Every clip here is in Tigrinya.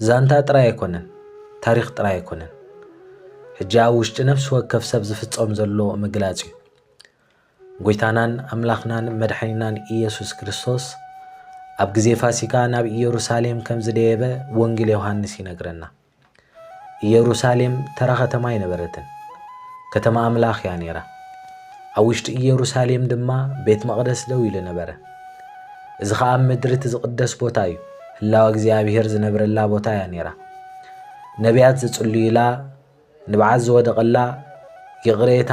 ዛንታ ጥራይ ኣይኮነን ታሪኽ ጥራይ ኣይኮነን ሕጂ ኣብ ውሽጢ ነፍሲ ወከፍ ሰብ ዝፍጸም ዘሎ ምግላጽ እዩ። ጎይታናን ኣምላኽናን መድሓኒናን ኢየሱስ ክርስቶስ ኣብ ግዜ ፋሲካ ናብ ኢየሩሳሌም ከም ዝደየበ ወንጌል ዮሃንስ ይነግረና። ኢየሩሳሌም ተራ ከተማ ኣይነበረትን፣ ከተማ ኣምላኽ እያ ነይራ። ኣብ ውሽጢ ኢየሩሳሌም ድማ ቤት መቕደስ ደው ኢሉ ነበረ። እዚ ኸኣ ኣብ ምድሪ እቲ ዝቕደስ ቦታ እዩ። ህላወ እግዚኣብሄር ዝነብረላ ቦታ እያ ነይራ። ነቢያት ዝጽልዩላ፣ ንብዓት ዝወደቐላ፣ ይቕሬታ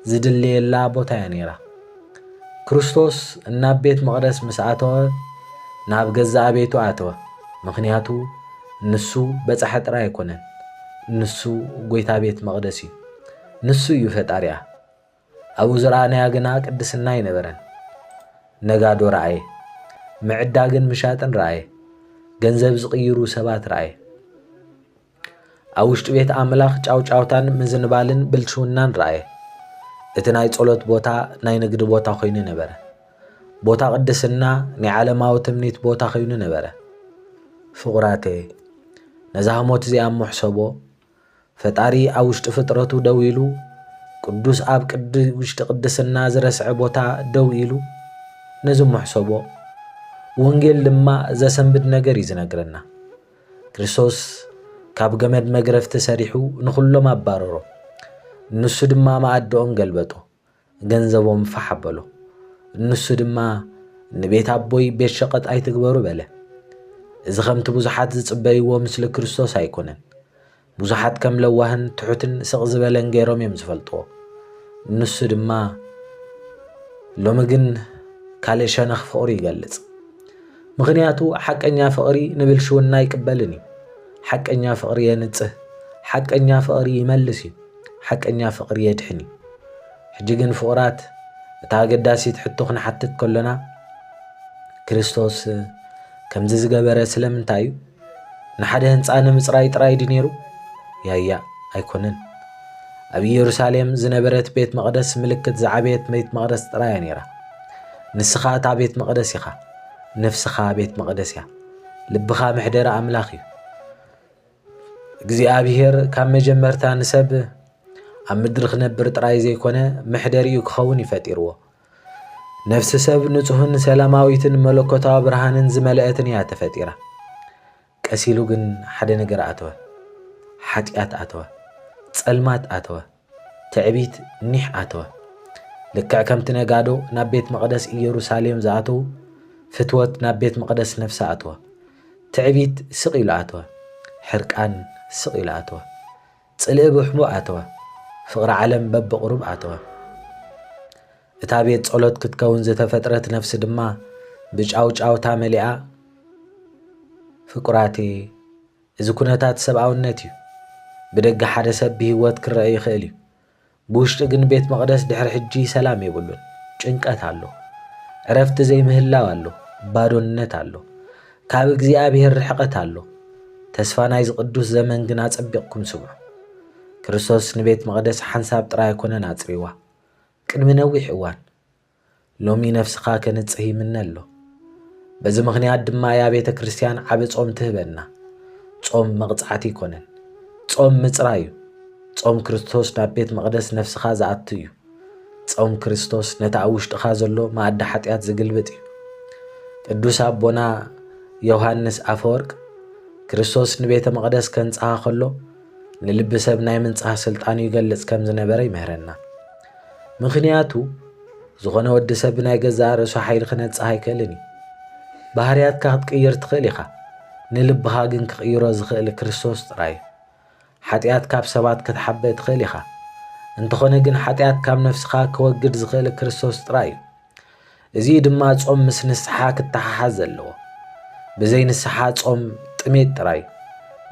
ዝድለየላ ቦታ እያ ነይራ። ክርስቶስ እናብ ቤት መቕደስ ምስ ኣተወ ናብ ገዛእ ቤቱ ኣተወ። ምኽንያቱ ንሱ በጻሒ ጥራይ ኣይኮነን፣ ንሱ ጎይታ ቤት መቕደስ እዩ። ንሱ እዩ ፈጣሪኣ። ኣብኡ ዝረኣናዮ ግና ቅድስና ኣይነበረን። ነጋዶ ረኣየ። ምዕዳግን ምሻጥን ረኣየ። ገንዘብ ዝቕይሩ ሰባት ረኣየ። ኣብ ውሽጢ ቤት ኣምላኽ ጫውጫውታን ምዝንባልን ብልሽውናን ረኣየ። እቲ ናይ ጸሎት ቦታ ናይ ንግዲ ቦታ ኮይኑ ነበረ። ቦታ ቅድስና ናይ ዓለማዊ ትምኒት ቦታ ኮይኑ ነበረ። ፍቑራተይ ነዛ ህሞት እዚኣ እሞ ሕሰቦ፣ ፈጣሪ ኣብ ውሽጢ ፍጥረቱ ደው ኢሉ፣ ቅዱስ ኣብ ቅዲ ውሽጢ ቅድስና ዝረስዐ ቦታ ደው ኢሉ ነዚ ሞሕሰቦ ወንጌል ድማ ዘሰንብድ ነገር እዩ ዝነግረና። ክርስቶስ ካብ ገመድ መግረፍቲ ሰሪሑ ንኹሎም ኣባረሮም፣ ንሱ ድማ መኣድኦም ገልበጦ። ገንዘቦም ፋሕ ኣበሎ። ንሱ ድማ ንቤት ኣቦይ ቤት ሸቐጥ ኣይትግበሩ በለ። እዚ ከምቲ ብዙሓት ዝጽበይዎ ምስሊ ክርስቶስ ኣይኮነን። ብዙሓት ከም ለዋህን ትሑትን ስቕ ዝበለን ገይሮም እዮም ዝፈልጥዎ። ንሱ ድማ ሎሚ ግን ካልእ ሸነኽ ፍቕሩ ይገልጽ። ምኽንያቱ ሓቀኛ ፍቕሪ ንብልሽውና ኣይቅበልን እዩ። ሓቀኛ ፍቕሪ የንጽህ፣ ሓቀኛ ፍቕሪ ይመልስ እዩ። ሓቀኛ ፍቕሪ የድሕን እዩ። ሕጂ ግን ፍቑራት፣ እታ ኣገዳሲት ሕቶ ክንሓትት ከሎና፣ ክርስቶስ ከምዚ ዝገበረ ስለምንታይ እዩ? ንሓደ ህንጻ ንምጽራይ ጥራይ ድዩ ነይሩ? ያያ ኣይኮነን። ኣብ ኢየሩሳሌም ዝነበረት ቤት መቕደስ ምልክት ዝዓበየት ቤት መቕደስ ጥራያ ነይራ። ንስኻ እታ ቤት መቕደስ ኢኻ። ነፍስኻ ቤት መቕደስ እያ። ልብኻ መሕደሪ ኣምላኽ እዩ። እግዚኣብሄር ካብ መጀመርታ ንሰብ ኣብ ምድሪ ክነብር ጥራይ ዘይኮነ መሕደሪኡ ክኸውን እዩ ፈጢርዎ። ነፍሲ ሰብ ንጹህን ሰላማዊትን መለኮታዊ ብርሃንን ዝመልአትን እያ ተፈጢራ። ቀሲሉ ግን ሓደ ነገር ኣተወ፣ ሓጢኣት ኣተወ፣ ጸልማት ኣተወ። ትዕቢት ኒሕ ኣተወ። ልክዕ ከምቲ ነጋዶ ናብ ቤት መቕደስ ኢየሩሳሌም ዝኣተዉ፣ ፍትወት ናብ ቤት መቕደስ ነፍሲ ኣተወ። ትዕቢት ስቕ ኢሉ ኣተወ። ሕርቃን ስቕ ኢሉ ኣተወ። ጽልኢ ብሕቡእ ኣተወ። ፍቕሪ ዓለም በብቕሩብ ኣተወ። እታ ቤት ጸሎት ክትከውን ዝተፈጥረት ነፍሲ ድማ ብጫውጫውታ መሊኣ ፍቁራቲ እዚ ኩነታት ሰብኣውነት እዩ። ብደገ ሓደ ሰብ ብህይወት ክረኣ ይኽእል እዩ። ብውሽጢ ግን ቤት መቕደስ ድሕሪ ሕጂ ሰላም የብሉን። ጭንቀት ኣሎ። ዕረፍቲ ዘይምህላው ኣሎ። ባዶነት ኣሎ። ካብ እግዚኣብሔር ርሕቐት ኣሎ። ተስፋ ናይዚ ቅዱስ ዘመን ግን ኣጸቢቕኩም ስምዑ። ክርስቶስ ንቤት መቕደስ ሓንሳብ ጥራይ ኣይኮነን ኣጽሪዋ። ቅድሚ ነዊሕ እዋን። ሎሚ ነፍስኻ ከንጽህ ይምነ ኣሎ። በዚ ምኽንያት ድማ እያ ቤተ ክርስቲያን ዓብ ጾም ትህበና። ጾም መቕጻዕቲ ኣይኮነን። ጾም ምጽራይ እዩ። ጾም ክርስቶስ ናብ ቤት መቕደስ ነፍስኻ ዝኣቱ እዩ። ጾም ክርስቶስ ነቲ ኣብ ውሽጥኻ ዘሎ መኣዲ ሓጢኣት ዝግልብጥ እዩ። ቅዱስ ኣቦና ዮሃንስ ኣፈወርቅ ክርስቶስ ንቤተ መቕደስ ከንጽሃ ከሎ ንልቢ ሰብ ናይ ምንጻህ ስልጣኑ ይገልጽ ከም ዝነበረ ይምህረና። ምኽንያቱ ዝኾነ ወዲ ሰብ ብናይ ገዛእ ርእሱ ሓይሊ ክነጽህ ኣይክእልን እዩ። ባህርያትካ ክትቅይር ትኽእል ኢኻ፣ ንልብኻ ግን ክቕይሮ ዝኽእል ክርስቶስ ጥራይ እዩ። ሓጢኣት ካብ ሰባት ክትሓበ ትኽእል ኢኻ፣ እንተኾነ ግን ሓጢኣት ካብ ነፍስኻ ክወግድ ዝኽእል ክርስቶስ ጥራይ እዩ። እዚ ድማ ጾም ምስ ንስሓ ክተሓሓዝ ዘለዎ። ብዘይ ንስሓ ጾም ጥሜት ጥራይ፣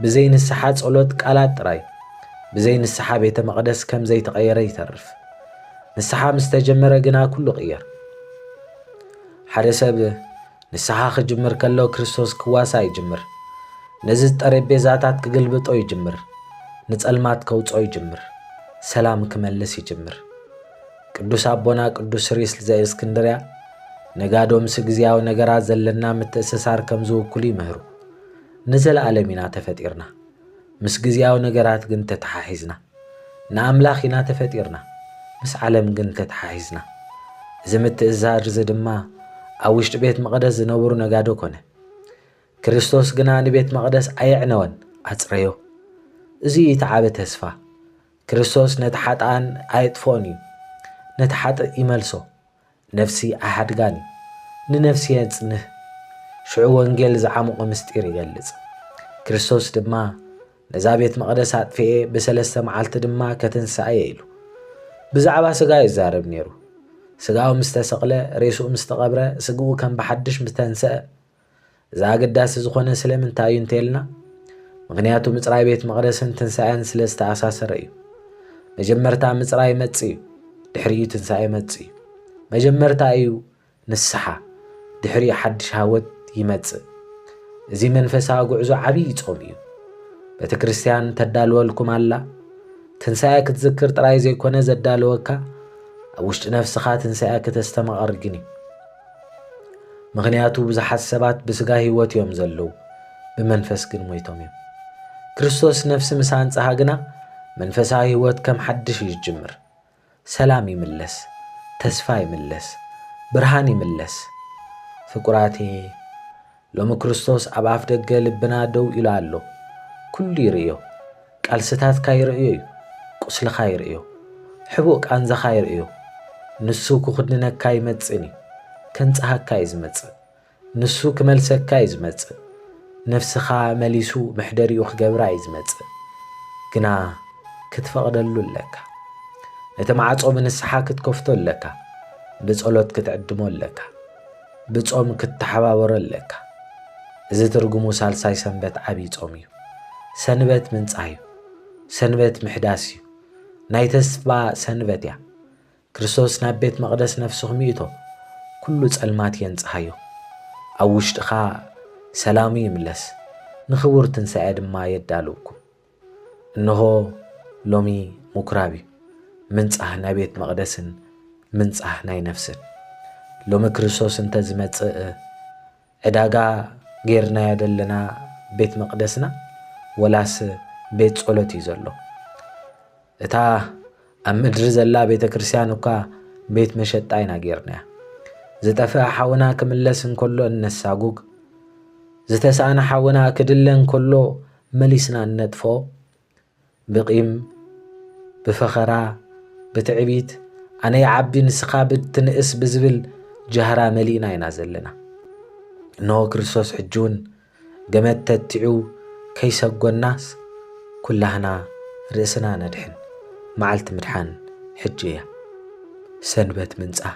ብዘይ ንስሓ ጸሎት ቃላት ጥራይ፣ ብዘይ ንስሓ ቤተ መቕደስ ከም ዘይተቐየረ ይተርፍ። ንስሓ ምስ ተጀመረ ግና ኩሉ ቕየር። ሓደ ሰብ ንስሓ ክጅምር ከሎ ክርስቶስ ክዋሳ ይጅምር። ነዚ ጠረጴዛታት ክግልብጦ ይጅምር። ንጸልማት ከውጽኦ ይጅምር። ሰላም ክመልስ ይጅምር። ቅዱስ ኣቦና ቅዱስ ሪስል ዘእስክንድርያ ነጋዶ ምስ ግዜያዊ ነገራት ዘለና ምትእስሳር ከም ዝውክሉ ይምህሩ። ንዘለኣለም ኢና ተፈጢርና፣ ምስ ግዜያዊ ነገራት ግን ተተሓሒዝና። ንኣምላኽ ኢና ተፈጢርና፣ ምስ ዓለም ግን ተተሓሒዝና። እዚ ምትእስሳር እዚ ድማ ኣብ ውሽጢ ቤት መቕደስ ዝነበሩ ነጋዶ ኮነ። ክርስቶስ ግና ንቤት መቕደስ ኣየዕነወን፣ ኣጽረዮ። እዚ እዩ እቲ ዓቢ ተስፋ። ክርስቶስ ነቲ ሓጥኣን ኣየጥፍኦን እዩ፣ ነቲ ሓጥእ ይመልሶ፣ ነፍሲ ኣይሓድጋን እዩ፣ ንነፍሲ የጽንህ፣ ሽዑ ወንጌል ዝዓሙቐ ምስጢር ይገልጽ። ክርስቶስ ድማ ነዛ ቤት መቕደስ ኣጥፍኤ ብሰለስተ መዓልቲ ድማ ከትንስኣ እየ ኢሉ ብዛዕባ ስጋ ይዛረብ ነይሩ። ስጋኡ ምስ ተሰቕለ፣ ሬስኡ ምስ ተቐብረ፣ ስግኡ ከም ብሓድሽ ምስ ተንስአ፣ እዚ ኣገዳሲ ዝኾነ ስለምንታይ እዩ እንተልና ምክንያቱ ምፅራይ ቤት መቕደስን ትንሣኤን ስለ ዝተኣሳሰረ እዩ። መጀመርታ ምፅራይ መፅ እዩ፣ ድሕሪኡ ትንሣኤ መፅ እዩ። መጀመርታ እዩ ንስሓ፣ ድሕሪኡ ሓድሽ ሃወት ይመጽእ። እዚ መንፈሳዊ ጉዕዞ ዓብዪ ጾም እዩ። ቤተ ክርስቲያን ተዳልወልኩም ኣላ። ትንሣኤ ክትዝክር ጥራይ ዘይኮነ ዘዳለወካ ኣብ ውሽጢ ነፍስኻ ትንሣኤ ክተስተማቕር ግን እዩ። ምኽንያቱ ብዙሓት ሰባት ብስጋ ህይወት እዮም ዘለዉ፣ ብመንፈስ ግን ሞይቶም እዮም። ክርስቶስ ነፍሲ ምስ ኣንጽሃ ግና መንፈሳዊ ህይወት ከም ሓድሽ እዩ ዝጅምር። ሰላም ይምለስ፣ ተስፋ ይምለስ፣ ብርሃን ይምለስ። ፍቁራቴ ሎሚ ክርስቶስ ኣብ ኣፍ ደገ ልብና ደው ኢሉ ኣሎ። ኩሉ ይርእዮ። ቃልስታትካ ይርእዮ እዩ። ቁስልኻ ይርእዮ። ሕቡእ ቃንዛኻ ይርእዮ። ንሱ ክኹንነካ ኣይመጽእን እዩ። ከንጽሃካ እዩ ዝመጽእ። ንሱ ክመልሰካ እዩ ዝመጽእ። ነፍስኻ መሊሱ መሕደሪኡ ክገብራ እዩ ዝመጽእ። ግና ክትፈቕደሉ ኣለካ። ነቲ ማዕጾ ብንስሓ ክትከፍቶ ኣለካ። ብጸሎት ክትዕድሞ ኣለካ። ብጾም ክትተሓባበሮ ኣለካ። እዚ ትርጉሙ ሳልሳይ ሰንበት ዓቢይ ጾም እዩ። ሰንበት ምንጻህ እዩ። ሰንበት ምሕዳስ እዩ። ናይ ተስፋ ሰንበት እያ። ክርስቶስ ናብ ቤት መቕደስ ነፍስኹም ይእቶ፣ ኩሉ ጸልማት የንጽሃዮ። ኣብ ውሽጥኻ ሰላሙ ይምለስ፣ ንኽቡር ትንሳኤ ድማ የዳልውኩም። እንሆ ሎሚ ምኵራብ እዩ፣ ምንጻህ ናይ ቤት መቕደስን ምንጻህ ናይ ነፍስን። ሎሚ ክርስቶስ እንተ ዝመጽእ ዕዳጋ ጌርናዮ ዘለና ቤት መቕደስና ወላስ ቤት ጸሎት እዩ ዘሎ? እታ ኣብ ምድሪ ዘላ ቤተ ክርስቲያን እኳ ቤት መሸጣ ኢና ጌርናያ። ዝጠፍአ ሓውና ክምለስ እንከሎ እነሳጉግ፣ ዝተሳእነ ሓውና ክድለ እንከሎ መሊስና ንነጥፎ ብቂም ብፈኸራ ብትዕቢት ኣነ ይዓቢ ንስኻ ብትንእስ ብዝብል ጃህራ መሊእና ኢና ዘለና እንሆ ክርስቶስ ሕጂውን ገመድ ተቲዑ ከይሰጎናስ ኩላህና ርእስና ነድሕን መዓልቲ ምድሓን ሕጂ እያ ሰንበት ምንጻህ